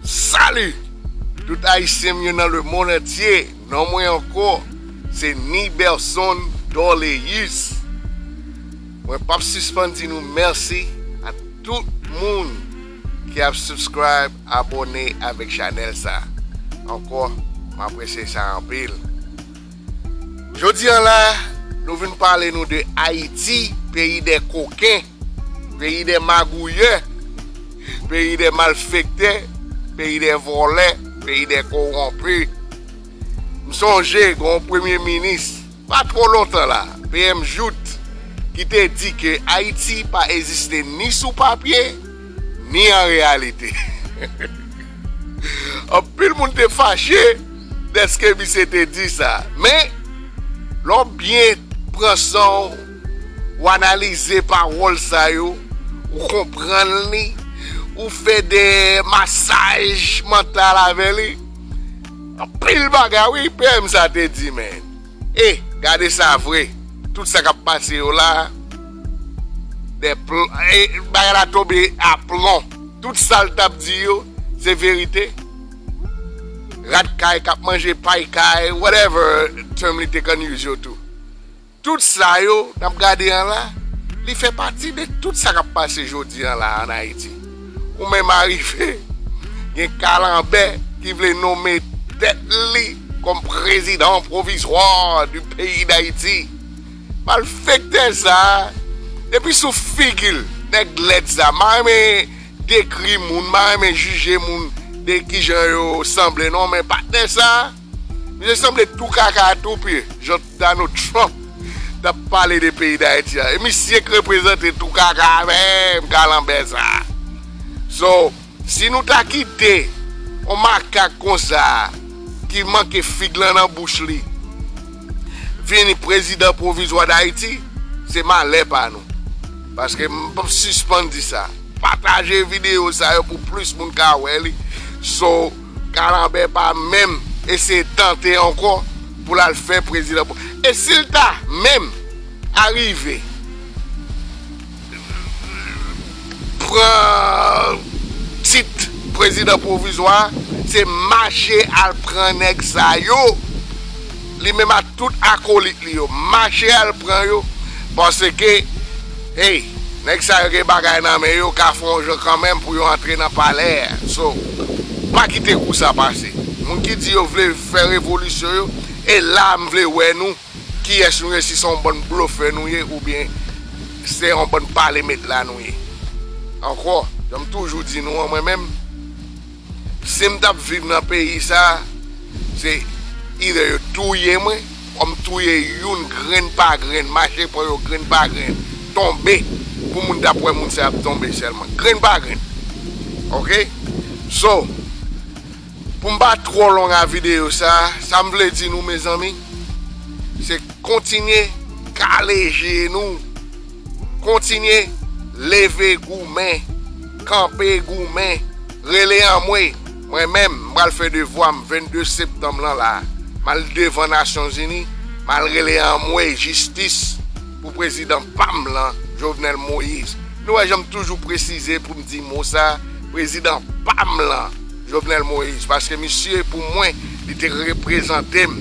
Salut tout ayisyen m yo nan le mond antye non mwen anko se Niberson Dorleus mwen pap sispann di nou merci a tout moun ki ap subscribe abone avek chanel sa anko m apresye sa anpil. Jodi an la, nou vin pale nou de Ayiti, peyi dè koken, peyi dè magouyè, peyi dè malfektè, peyi dè vòlè, peyi dè kowonpi. M sonje gen yon premye minis, pa twò lontan la, PM Jout, ki te di ke Ayiti pa eziste ni sou papye, ni an reyalite. Anpil moun te fache. Deske misye te di sa. Men, lè w byen pran san w, w analize pawòl sa yo, ou konprann li, ou fè de masaj mantal avè li, anpil bagay wi PM sa te di men. E, gade sa vre, tout sa k ap pase yo la, bagay la tonbe a plon. Tout sa l t ap di yo, se verite. rat kay kap manje pay kay whatever term li te konn use yo tou tout sa yo nap gade an la li fè pati de tout sa kap pase jodi an la an Ayiti ou menm arive gen kalanbè ki vle nome tèt li kòm prezidan pwovizwa di peyi Dayiti malfektè sa depi sou figil nèg lèd sa mare. dekri moun, m pa renmen jije moun de kijan yo sanble non men patnè sa, misye sanble tou kaka tou pye jan Donald Trump tap pale de peyi Dayiti a e misye k reprezante tou kaka menm kalanbè sa so si nou ta kite yon makak konsa ki manke fig lan nan bouch li. vini prezidan pwovizwa dayiti se malè pa nou paske m pap sispann di sa pataje video sa yo pou plis moun ka wè li so kalanbè pa menm eseye tante ankò pou l al fè prezidan e si l ta menm arive. pran tit prezidan pwovizwa se mache al pran nèg sa yo li menm ak tout akolit li yo mache al pran yo paske hey nèg sa yo gen bagay nan men yo ka fon jan kanmenm pou yo antre nan palè a so pa kite kou sa pase moun ki di yo vle fè revolisyon yo e la m vle wè nou. Kiyès nou ye si se yon bann blofè nou ye oubyen se yon bann pale met la nou ye ankò janm toujou di nou an mwen menm sim tap viv nan peyi sa se either yo touye mwen or m touye youn grenn pa grenn mache pran yo grenn pa grenn tonbe pou moun tap wè moun sa ap tonbe sèlman grenn pa grenn ok so. Pou m pa twò long a videyo sa, sa m vle di nou mezanmi, se kontinye kale je nou, kontinye leve goumen, kanpe goumen, rele anmwey, mwen menm m pral fè devwa m 22 septanm lan la, m al devan nasyon zini, m al rele anmwey jistis pou prezidan pa m lan Jovenel Moïse, nou wè jan m toujou presize pou m di mo sa, prezidan pa m lan. Jovenel Moïse paske misye pou mwen li te reprezantem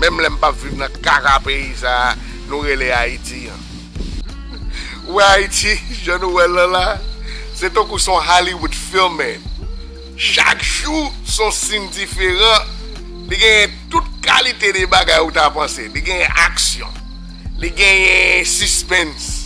menm lèm pap viv nan kaka peyi sa nou rele ayiti an ou wè ayiti jan nou wèl lan la se tankou son Hollywood filme chak jou son sin diferan li genyen tout kalite de bagay ou ta panse li genyen aksyon li genyen sispens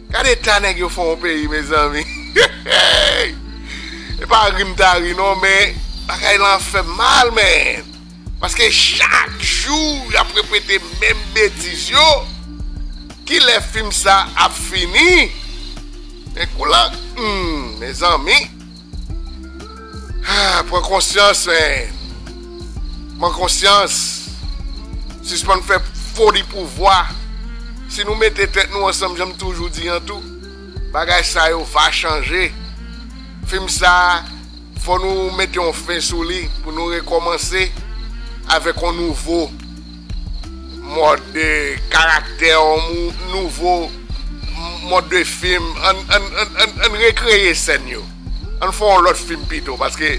Gad eta nèg yo fè yon peyi mezanmi hehey e pa ri m ta ri non men bagay lan fè m mal man paske chak jou yap repete menm betiz yo kilè fim sa ap fini men kou lan humm mezanmi. Ahh pran konsyans men pran konsyans sispann fè foli pouvwa si nou mete tèt nou ansanm janm toujou di an tou bagay sa yo va chanje fim sa fò nou mete yon fen sou li pou nou rekòmanse avèk yon nouvo. Mòd de karaktè ou nouvo mòd de fim ann rekreye sèn yo ann fè yon lòt fim pito paske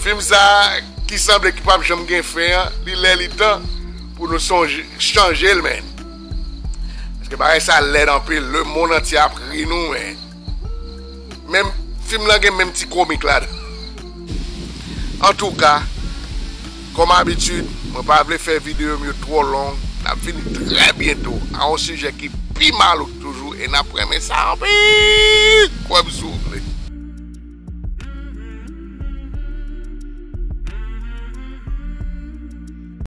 fim sa ki sanble ki pap janm gen fen an li lè li tan pou nou chanjel menn paske bagay sa lèd anpil le mond antye ap ri nou menn. Menm fim lan gen menm ti komik ladan. Antouka, kòm abitid, mwen pa vle fè videyo m yo twò long, n ap vini trè byento a yon sijè ki pi malouk toujou e n ap renmen sa anpil! Kwè m si w vle.